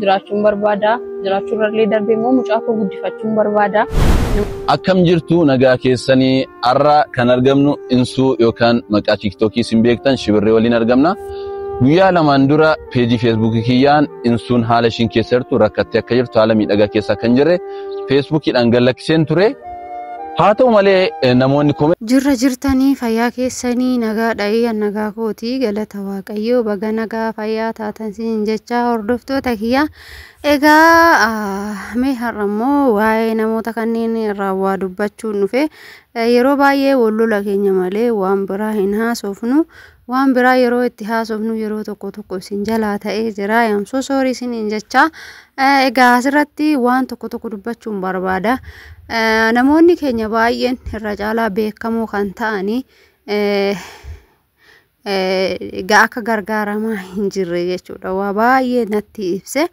jiraachuun barbaada. Jiraachuu irrallee darbee immoo mucaa koo guddifachuun barbaada. Akkam jirtu nagaa keessanii har'a kan argamnu insuu yookaan maqaa tiiktookii isin beektan shibirree waliin argamna. Guyyaa lamaan dura peejii feesbuukii kiyyaan insuun haala ishiin keessa jirtu rakkattee akka jirtu haala miidhagaa keessa akka hin jirre feesbuukiidhaan gallakkiseen ture. Haa ta'u malee namoonni komee. Jirra jirtanii fayyaa keessanii nagaadha iyyan nagaa kooti galata waaqayyoo baga nagaa fayyaa taatan siin jechaa hordoftoota kiyya egaa mee har'a immoo waa'ee namoota kanneen irraa waa dubbachuun dhufe yeroo baay'ee wal lola keenya malee waan biraa hin haasofnu Waan biraa yeroo itti haasofnu yeroo tokko tokko isin jalaa ta'ee jira. I am so sorry isiniin jecha. Eh, Egaa asirratti waan tokko tokko dubbachuun barbaada. Eh, Namoonni keenya baay'een irra caalaa beekamoo kan ta'anii eh, eh, egaa akka gargaaramaa hin jirre jechuudha. Waa baay'ee natti ibse.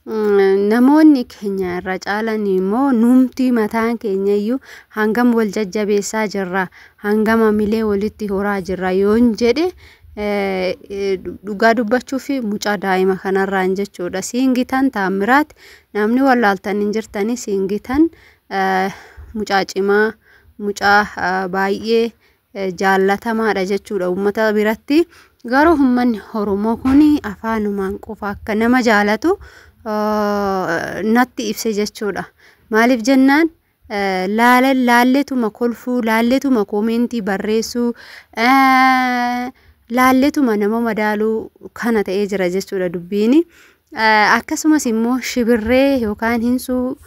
Namoonni keenya irra caalan immoo nuumtii mataan keenya iyyuu hangam wal jajjabeessaa jirra hangam hamilee walitti horaa jirra yoon jedhe dhugaa dubbachuu fi mucaa daa'ima kanarraan jechuudha. Siin gitan taammiraat namni wallaaltan hin jirtanii siin gitan mucaa cimaa mucaa baay'ee jaallatamaadha jechuudha uummata biratti. Garuu uummanni Oromoo kun afaanumaan qofa akka nama jaalatu natti ibse jechuudha. Maaliif jennaan laalleetuma kolfuu, laalleetuma koomeentii barreessuu, laalleetuma nama madaaluu kana ta'ee jira jechuudha dubbiin. Akkasumas immoo shibirree yookaan hinsuu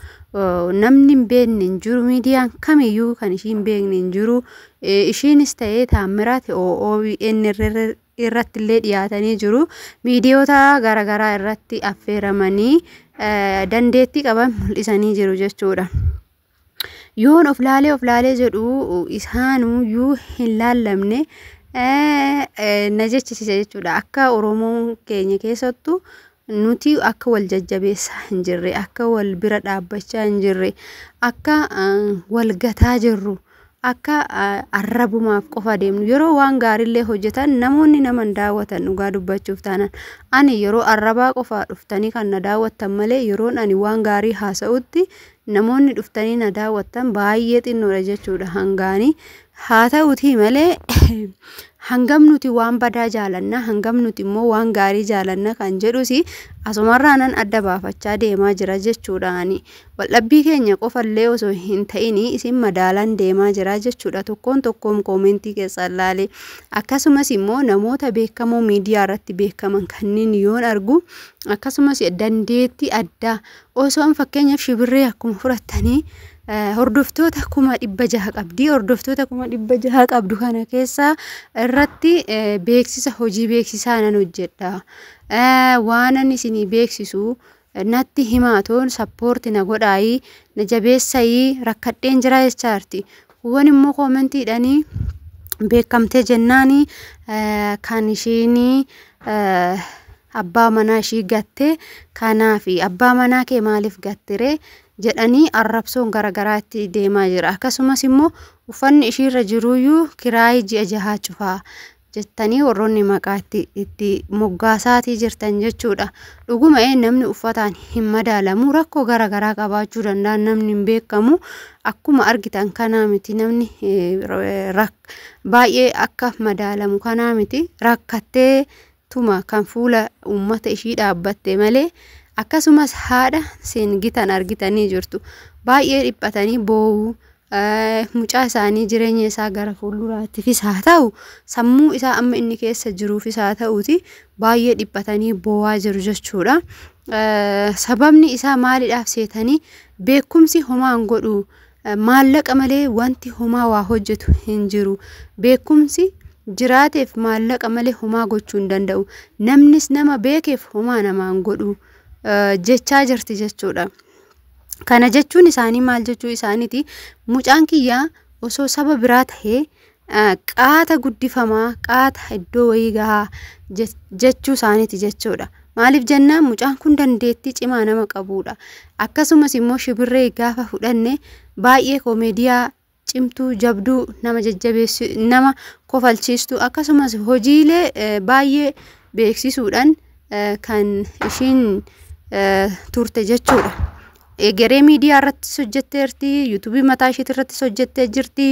namni hin beekne hin jiru miidiyaan kamiyyuu kan ishii hin beekne hin jiru ishiinis ta'ee taammiraati OON irratti illee dhiyaatanii jiru miidiyoota garaagaraa irratti affeeramanii dandeettii qaban mul'isanii jiru jechuudha. Yoon of laalee of laalee jedhu isaanuu yoo hin laallamne na jechisiisa jechuudha. Akka Oromoon keenya keessattu nuti akka wal jajjabeessaa hin jirre, akka wal bira dhaabbachaa hin jirre, akka wal gataa jirru, akka arrabumaaf qofa deemnu. Yeroo waan gaariillee hojjetan namoonni nama hin daawwatan dhugaa dubbachuuf taanaan. Ani yeroo arrabaa qofaa dhuftanii kan na daawwattan malee yeroon ani waan gaarii haasa'utti namoonni dhuftanii na daawwattan baay'ee xinnoodha jechuudha hangaanii. Haa ta'uutii malee hangam nuti waan badaa jaalanna hangam nuti immoo waan gaarii jaalanna kan jedhus asumarraanan adda baafachaa deemaa jira jechuudhaani. Waldhabbii keenya qofallee osoo hin ta'in isin madaalaan deemaa jira jechuudha tokkoon tokkoon koomentii keessaan laale. Akkasumas immoo namoota beekamoo miidiyaa irratti beekaman kanneen yoon argu akkasumas dandeettii addaa Osoon fakkeenyaaf shibirree akkuma fudhattanii hordoftoota kuma dhibba jaha qabdi. Hordoftoota kuma dhibba jaha qabdu kana keessaa irratti beeksisa hojii beeksisaa nan hojjedha. Waanan isinii beeksisu natti himaatoon sappoorti na godhaayii na jabeessayii rakkadheen jira jechaarti. Kuwwan immoo koomentiidhanii beekamtee jennaanii kan ishiinii. abbaa manaa ishii gatte kanaafi abbaa manaa kee maaliif gattiree jedhanii arrabsoon garagaraa itti deemaa jira akkasumas immoo uffanni ishiirra jiruyyuu kiraayii ji'a jahaa cufaa jettanii warroonni maqaa itti itti moggaasaatii jirtan jechuudha dhuguma ee namni uffataan hin madaalamu rakkoo garagaraa qabaachuu danda'a namni hin beekamu akkuma argitan kanaa miti namni eh, rak- baay'ee akka madaalamu kanaa miti rakkattee tuma kan fuula uummata ishii dhaabbatte malee akkasumas haadha seengitan argitanii jirtu baay'ee dhiphatanii boo'uu mucaa isaanii jireenya isaa gara fuulduraattifis haa ta'u sammuu isaa amma inni keessa jiruufis haa ta'uuti baay'ee dhiphatanii boo'aa jiru jechuudha. Sababni isaa maalidhaaf seetanii beekumsi homaan godhu Maallaqa malee wanti homaa waa hojjetu hin jiru. Beekumsi jiraateef maallaqa malee homaa gochuu hin danda'u. Namnis nama beekeef homaa namaan godhu jechaa jirti jechuudha. Kana jechuun isaanii maal jechuu isaaniiti? Mucaan kiyya osoo saba biraa tahee qaata guddifamaa qaata iddoo wayii gahaa jechuu isaaniiti jechuudha. Maaliif jennaan mucaan kun dandeettii cimaa nama qabuudha. Akkasumas immoo shibirree gaafa fudhanne baay'ee koomeediyaa cimtuu jabduu nama jajjabeessu nama kofalchiistu akkasumas hojiilee baay'ee beeksisuudhaan kan ishiin turte jechuudha. Egeree miidiyaa irrattis hojjetteerti, yuutuubii mataa isheetii irrattis hojjettee jirti,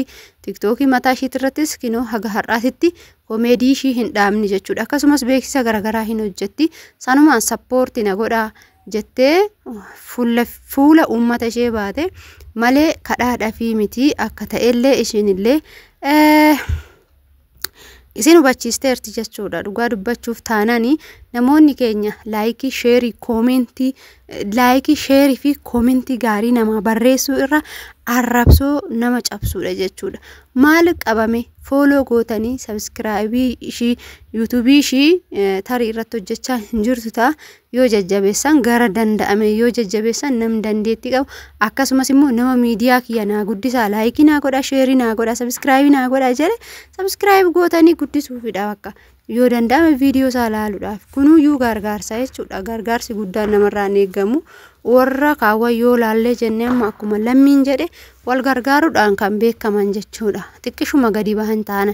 tiktookii mataa isheetii irrattis kinoo haga har'aatitti komeedii ishii hin dhaabne jechuudha. Akkasumas beeksisa garaagaraa hin hojjetti. Sanumaan sappoorti na godha jettee fuula, fuula uummata ishee baate malee kadhaadhaafii miti akka ta'ellee isheenillee eh, isin hubachiisteerti jechuudha dhugaa dubbachuuf taanani namoonni keenya laayikii sheerii koomentii laayikii sheerii fi koomentii gaarii namaa barreessuu irra arrabsoo nama cabsuudha jechuudha maal qabame fooloo gootanii sabiskiraayibii ishii yuutuubii ishii tarii irratti hojjechaa hin jirtu ta'a yoo jajjabeessan gara danda'ame yoo jajjabeessan nam dandeetti qabu akkasumas immoo nama miidiyaa kiyya naa guddisaa laayikii naa godha sheerii naa godha sabiskiraayibii naa godha jedhe sabiskiraayib gootanii guddisuufidha bakka yoo danda'ame viidiyoo isaa ilaaluudhaaf kunuu yuu gargaarsa jechuudha gargaarsi guddaan namarraa hin eegamu warra kaawwan yoo laallee jennee amma akkuma lammiin jedhe wal gargaaruudhaan kan beekaman jechuudha xiqqishuma gadi bahan taana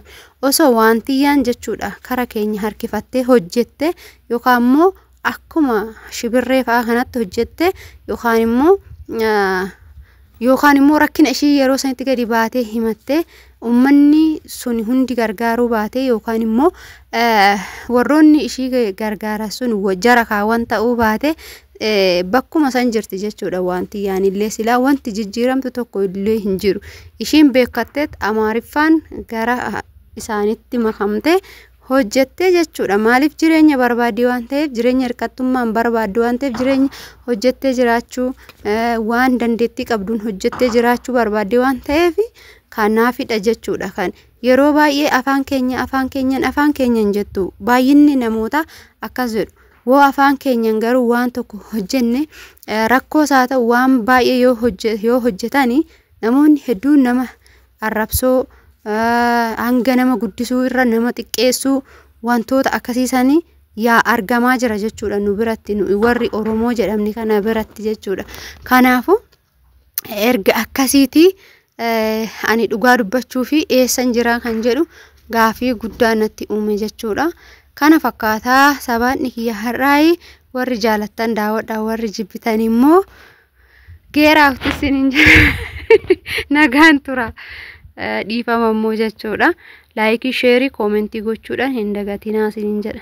osoo waantiyyaan jechuudha kara keenya harkifattee hojjette yookaan immoo akkuma shibirree fa'aa kanatti hojjette yookaan immoo yookaan immoo rakkina ishii yeroo sanitti gadi baatee himatte ummanni sun hundi gargaaruu baatee yookaan immoo warroonni ishii gargaaran sun jara kaawwan ta'uu baate bakkuma san jirti jechuudha wanti yaanillee silaa wanti jijjiiramtu tokko illee hin jiru ishiin beekatteet amaariffaan gara isaanitti makamte hojjettee jechuudha. Maaliif jireenya barbaaddi waan ta'eef jireenya hirkattummaan barbaaddu waan ta'eef jireenya hojjettee jiraachuu waan dandeettii qabduun hojjettee jiraachuu barbaaddi waan ta'eef kanaafidha jechuudha kan yeroo baay'ee afaan keenya afaan keenyan afaan keenyan jettu baay'inni namoota akkas jedhu woo afaan keenyan garuu waan tokko hojjenne rakkoo isaa ta'u waan baay'ee yoo hojjetani namoonni hedduun nama arrabsoo, hanga nama guddisuu irra nama xiqqeessuu wantoota akkasii sanii yaa argamaa jira jechuudha nu biratti nu warri Oromoo jedhamni kana biratti jechuudha. Kanaafuu erga akkasiitii eh, ani dhugaa dubbachuu fi eessan jiraa kan jedhu gaafii guddaa natti uume jechuudha. Kana fakkaataa sabaanni kiyya har'aayi warri jaalattan daawwadha warri jibbitan immoo geeraafti isin hin jedha nagaan tura dhiifama immoo jechuudha laayikii sheerii koomentii gochuudhaan hin dagatinaa isin hin jedha